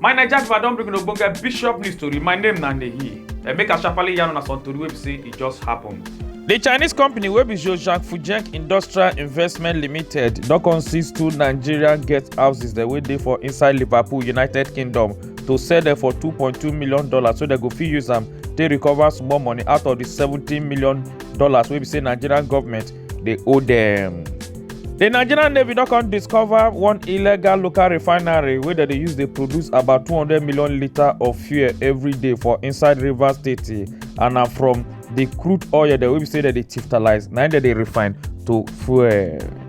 my naija pipo i don bring una ogbonge bishop news tori my name na nehi and make i sharparly yarn una some tori wey be say e just happen. di chinese company wey be zhozhang fujek industrial investment limited don come seize two nigerian guest houses dem wey dey for inside liverpool united kingdom to sell dem for two point two million dollars so dem go fit use am take recover small money out of di seventeen million dollars wey be say nigerian government dey owe dem. di nigerian navy don come discover one illegal local refinery wey dem dey use dey produce about 200 million litre of fuel every day for inside rivers state and na from di crude oil dem wey be say dem dey tiftalise na im dem dey refine to fuel.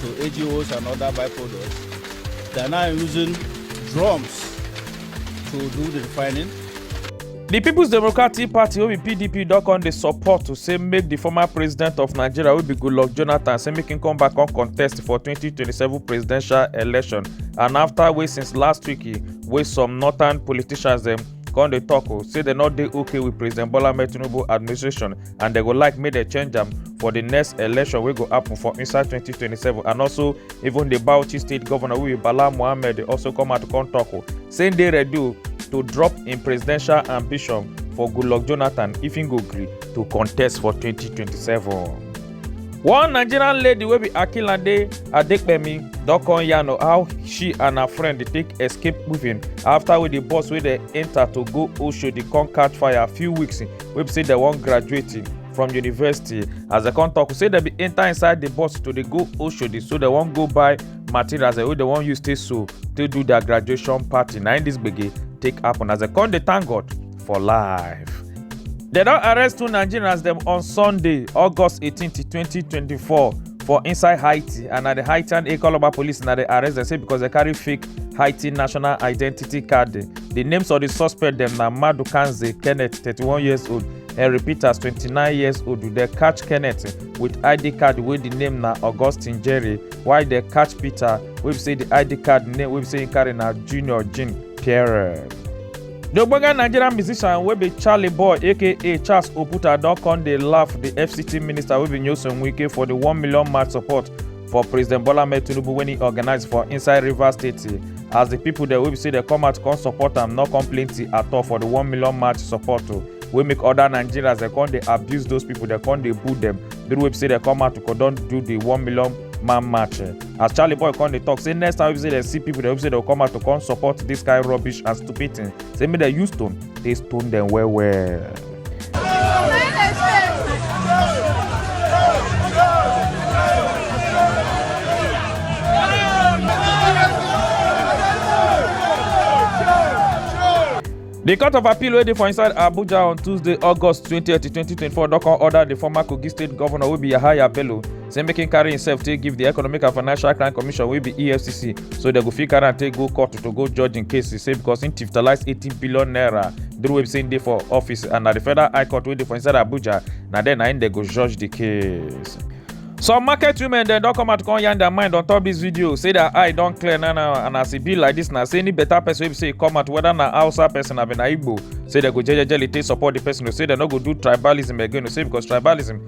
to AGOs and other byproducts. They are now using drums to do the refining. di peoples democratic party wey be pdp don come dey support to say make di former president of nigeria wey be goodluck jonathan say make him come back come contest for 2027 presidential election and afta wey since last week wey some northern politicians dem come dey tok o say dem no dey okay with president bola ahmed tinubu administration and dem go like make dem change am for di next election wey go happen for inside 2027 and also even di bauchi state governor wey be bala mohammed dey also come out come tok o say im dey ready o to drop im presidential ambition for goodluck jonathan if im go gree to contest for 2027. One Nigerian lady wey be Akinlade Adepemi don come yarn of how she and her friend dey take escape moving after wey the bus wey dey enter to go Oshodi come catch fire a few weeks wey be say dem wan graduate from university as dem come talk say dem bin enter inside the bus to dey go Oshodi so dem wan go buy materials wey dem wan use take sew take do their graduation party na im this gbege take happen as dem come dey thank God for life. Dem don arrest two Nigerians dem on Sunday, August 18, 2024 for inside Haiti and na the Haitian Ekologba police na dey arrest dem say because dem carry fake Haiti national identity card. The names of the suspect dem na Madu Kanze Kenneth, 31 years old, Henry Peters, 29 years old. Dem catch Kenneth with ID card wey the name na Augustine Jerry while dem catch Peter wey be say the ID card name wey be say he carry na Junior Jean Pierre. The ogbonge Nigerian musician wey be Charlie Boy aka Charles Oputa don come dey laugh the FCT minister wey be Nyesom Wike for the one million march support for President Bola Ahmed Tinubu wey he organize for inside Rivers State as the people dem wey be say dem come out come support am no come plenty at all for the one million march support o wey make other Nigerians dem come dey abuse those people dem come dey boo them the way be say dem come out to come don do the one million man march. as charlie boy come dey talk say next time wey dem see people dem say dem come out to come support this kind rubbish and stupid thing say make dem use stone take stone dem well well. The Court of Appeal wey dey for inside Abuja on Tuesday, August 20, 2024 don come order the former Kogi State Governor wey be Yahaya Bello say make him carry himself take give the economic and financial crime commission wey be efcc so dem go fit carry am take go court to go judge im case e say because im tiftalise eighteen billion naira during wey be say im dey for office and na the federal high court wey dey for inside abuja na there na im dem go judge the case. some market women dem don come out come yarn their mind on top this video say their eye don clear now now and as e be like this na say any better person wey be say e come out whether na hausa person abi na igbo say dem go jejejely take support the person o say dem no go do tribalism again o say because tribalism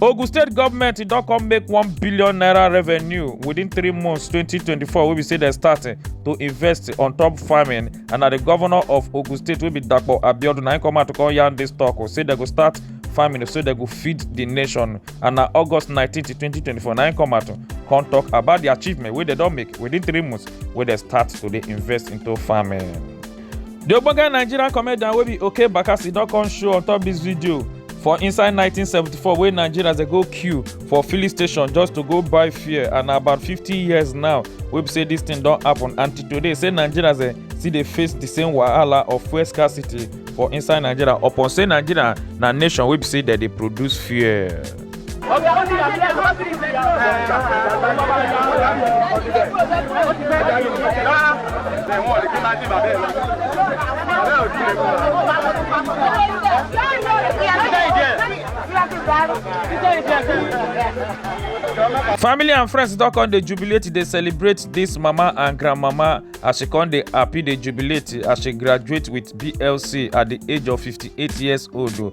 ogun state goment e don come make one billion naira revenue within three months 2024 wey be say dem start eh, to invest on top farming and na di govnor of ogun state wey be dapo abiodun na im come out to come yarn dis tok oh, say dem go start farming so dem go feed di nation and na august 19 to 2024 na im come out to come tok about di achievement wey dem don make within three months wey dem start to dey invest into farming. The ogbonge Nigerian comedian wey be Oke Bakassi don come show on top this video for inside 1974 wey Nigerians dey go queue for filling station just to go buy fuel and na about 50 years now wey be say this thing don happen and till today say Nigerians dey still dey face the same wahala of fuel scarcity for inside Nigeria upon say Nigeria na nation wey be say dem dey produce fuel. family and friends don come dey jubilate dey celebrate dis mama and grandmama as she come dey happy dey jubilate as she graduate with blc at di age of 58 years old o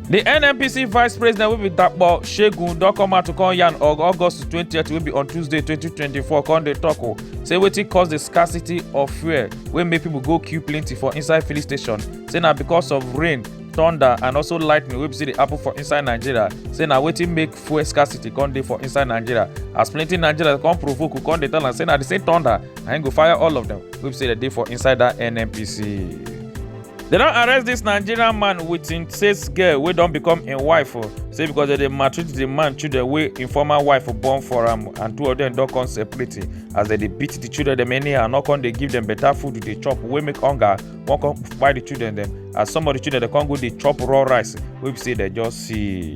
di nnpc vice president wey be dapo shegun don come out to come yarn on august 20th wey be on tuesday 2024 come dey tok o say wetin cause di scarcity of fuel wey make pipo go queue plenty for inside filling station say na because of rain thunder and also lightning wey be say dey happen for inside nigeria say na wetin make fuel scarcity come dey for inside nigeria as plenty nigerians come provoke who come dey tell am say na the same thunder na im go fire all of them wey be say dey dey for inside that nnpc. They don't arrest this Nigerian man with him sales girl wey don become a wife o. Oh. Say because they dey maltreat the man children wey im former wife born for am and two of them don't come separate as they dey beat the children dem anyhow no come they give them better food to dey chop wey make hunger wan come kpai the children them. as some of the children they come go dey chop raw rice We be say they just see.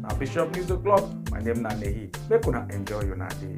na bishop news o'clock my name na nehi make una enjoy una day.